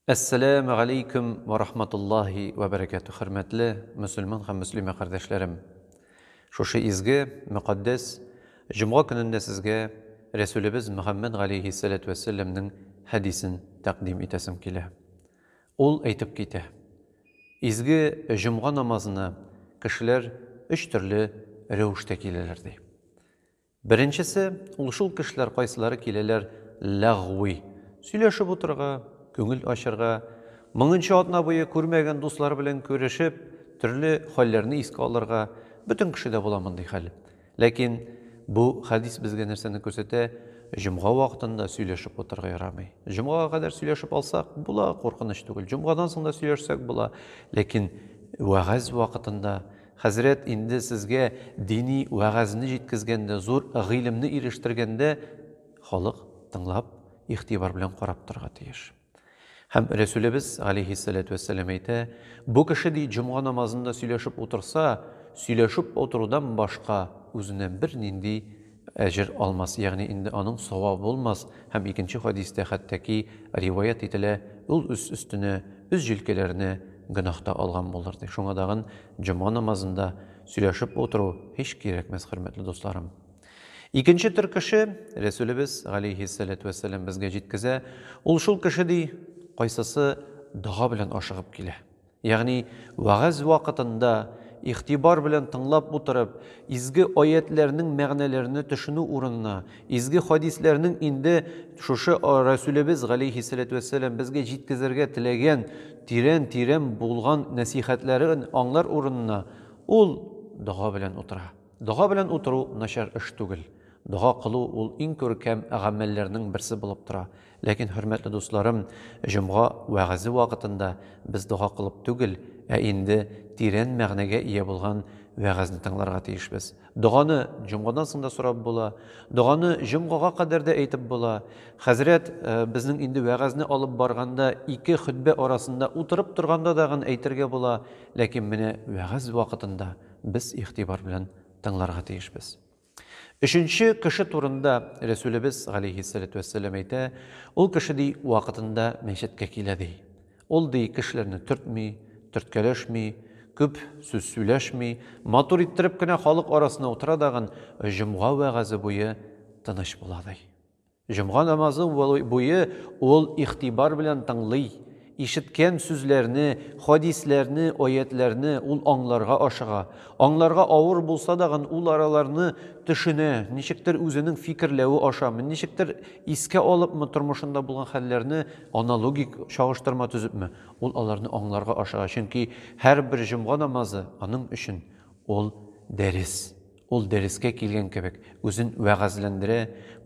Әссәләмү галәйкүм вә рахматуллаһи вә бәрәкәтүһ, хөрмәтле мөселман һәм мөслимә кардәшләрем! Шушы изге, мөкатдәс җомга көнендә сезгә Рәсүлебез Мөхәммәд галәйһиссәләтү вәссәләмнең хәдисен тәкъдим итәсем килә. Ул әйтеп китә, Изге җомга намазына кешеләр өч төрле рәвештә киләләр, ди. Беренчесе, ул шул кешеләр кайсылары киләләр ләгъви сөйләшеп утырырга, күңел ачырга, мыңынчы атна буе күрмәгән дуслары белән күрешеп, төрле хәлләрне искә алырга, бөтен кешедә була мондый хәл. Ләкин бу хәдис безгә нәрсәне күрсәтә? Җомга вакытында сөйләшеп утырырга ярамый. Җомгага кадәр сөйләшеп алсак, була, куркыныч түгел. Җомгадан соң да сөйләшсәк була. Ләкин вәгазь вакытында Хәзрәт, инде сезгә дини вәгазьне җиткезгәндә, зур гыйлемне ирештергәндә халык тыңлап, игътибар белән карап торырга тиеш. Һәм Рәсүлебез, галәйһиссәләтү вәссәлам, әйтә, Бу кеше, ди, җомга намазында сөйләшеп утырса, сөйләшеп утырудан башка үзенә бернинди Әҗер алмас, ягъни инде аның савабы булмас, һәм икенче хәдистә хәттәки риваять ителә, ул үз өстенә үз җилкәләренә гөнаһ та алган булыр, ди. Шуңа тагын җома намазында сөйләшеп утыру һич кирәкмәс, хөрмәтле дусларым. Икенче төр кеше, Рәсүлебез, галәйһиссәләтү вәссәлам, безгә җиткезә, ул шул кеше, ди, кайсысы дога белән ашыгып килә. Ягъни, вәгазь вакытында игътибар белән тыңлап утырып, изге аятьләрнең мәгънәләренә төшенү урынына, изге хәдисләрнең инде шушы Рәсүлебез галәйһиссәләтү вәссәлам безгә җиткезергә теләгән тирән-тирән булган нәсыйхәтләрен аңлар урынына, ул дога белән утыра. Дога белән утыру начар эш түгел. Дога кылу ул иң күркәм гамәлләрнең берсе булып тора. Ләкин, хөрмәтле дусларым, җомга вәгазе вакытында без дога кылып түгел, ә инде тирән мәгънәгә ия булган вәгазьне тыңларга тиешбез. Доганы җомгадан соң да сорап була. Доганы җомгага кадәр дә әйтеп була. Хәзрәт безнең инде вәгазьне алып барганда, ике хөтбә арасында утырып торганда да гын әйтергә була, ләкин менә вәгазь вакытында, без игътибар белән тыңларга тиешбез. Өченче кеше турында Рәсүлебез, галәйһиссәләтү вәссәлам, әйтә, Ул кеше, ди, вакытында мәчеткә килә, ди. Ул, ди, кешеләрне төртми, төрткәләшми, күп сүз сөйләшми, матур иттереп кенә халык арасына утыра дагын, җомга вәгазе буе тыныч була, ди. Җомга намазы буе ул игътибар белән тыңлый, ишеткән сүзләрне, хәдисләрне, аятьләрне ул аңларга ашыга. Аңларга авыр булса дагын ул араларны төшенә, ничектер үзенең фикерләве ашамы, ничектер искә алыпмы тормышында булган хәлләрне, аналогик чагыштырма төзепме, ул аларны аңларга ашыга, чөнки һәрбер җомга намазы аның өчен ул дәрес. Ул дәрескә килгән кебек, үзен вәгазьләндерә,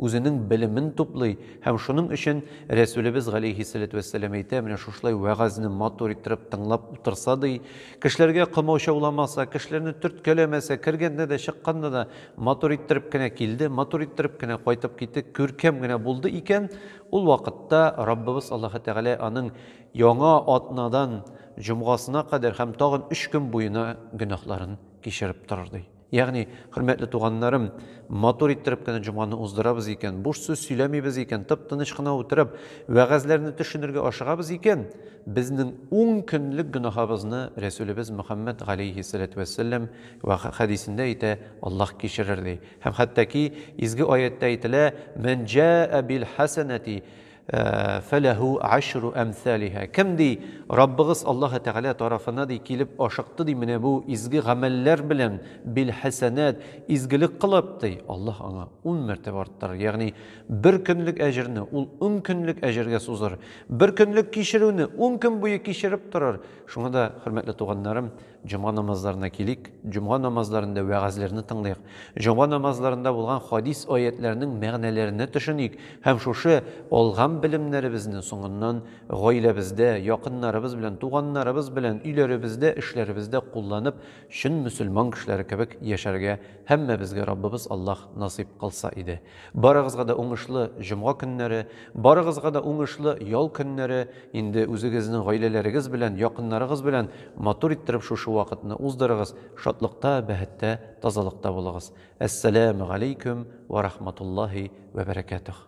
үзенең белемен туплый һәм шуның өчен Рәсүлебез галәйһиссәләтү вәссәлам әйтә, менә шушылай вәгазьне матур иттереп тыңлап утырса, ди, кешеләргә комаучауламаса, кешеләрне төрткәләмәсә, кергәндә дә, чыкканда да матур иттереп кенә килде, матур иттереп кенә кайтып китте, күркәм генә булды икән, ул вакытта Раббыбыз Аллаһы Тәгалә аның Яңа атнадан Җомгасына кадәр һәм тагын өч көн буена гөнаһларын кичереп торыр, ди. Ягъни, хөрмәтле туганнарым, матур иттереп кенә җомганы уздырабыз икән, буш сүз сөйләмибез икән, тып-тыныч кына утырып, вәгазьләрне төшенергә ашыгабыз икән, безнең ун көнлек гөнаһыбызны Рәсүлебез Мөхәммәд галәйһиссәләтү вәссәлам вә хәдисендә әйтә, Аллаһ кичерер, ди. Һәм хәттәки изге аятьтә әйтелә, Мән җәә бил хәсәнәти, Фәләһү гашру әмсалиһа. Кем, ди, Раббыгыз Аллаһы Тәгалә тарафына, ди, килеп ашыкты, ди, менә бу изге гамәлләр белән, бил-хәсәнәт, изгелек кылып, ди, Аллаһ аңа ун мәртәбә арттырыр, ягъни бер көнлек әҗерне ул ун көнлек әҗергә сузыр, бер көнлек кичерүне ун көн буе кичереп торыр. Шуңа да, хөрмәтле туганнарым, Җомга намазларына килик. Җомга намазларында вәгазьләрне тыңлыйк. Җомга намазларында булган хадис-аятьләрнең мәгънәләренә төшеник һәм шушы алган белемнәребезне соңыннан гаиләбездә, якыннарыбыз белән, туганнарыбыз белән, өйләребездә, эшләребездә кулланып, чын мөселман кешеләре кебек яшәргә һәммәбезгә Раббыбыз Аллаһ насыйп кылса иде. Барыгызга да уңышлы җомга көннәре, барыгызга да уңышлы ял көннәре, инде үзегезнең гаиләләрегез белән, якыннарыгыз белән матур иттереп шушы вакытны уздырыгыз, шатлыкта, бәһеттә, тазалыкта булыгыз. Әссәләмегаләйкүм вә рахматуллаһи вә бәрәкәтүһ.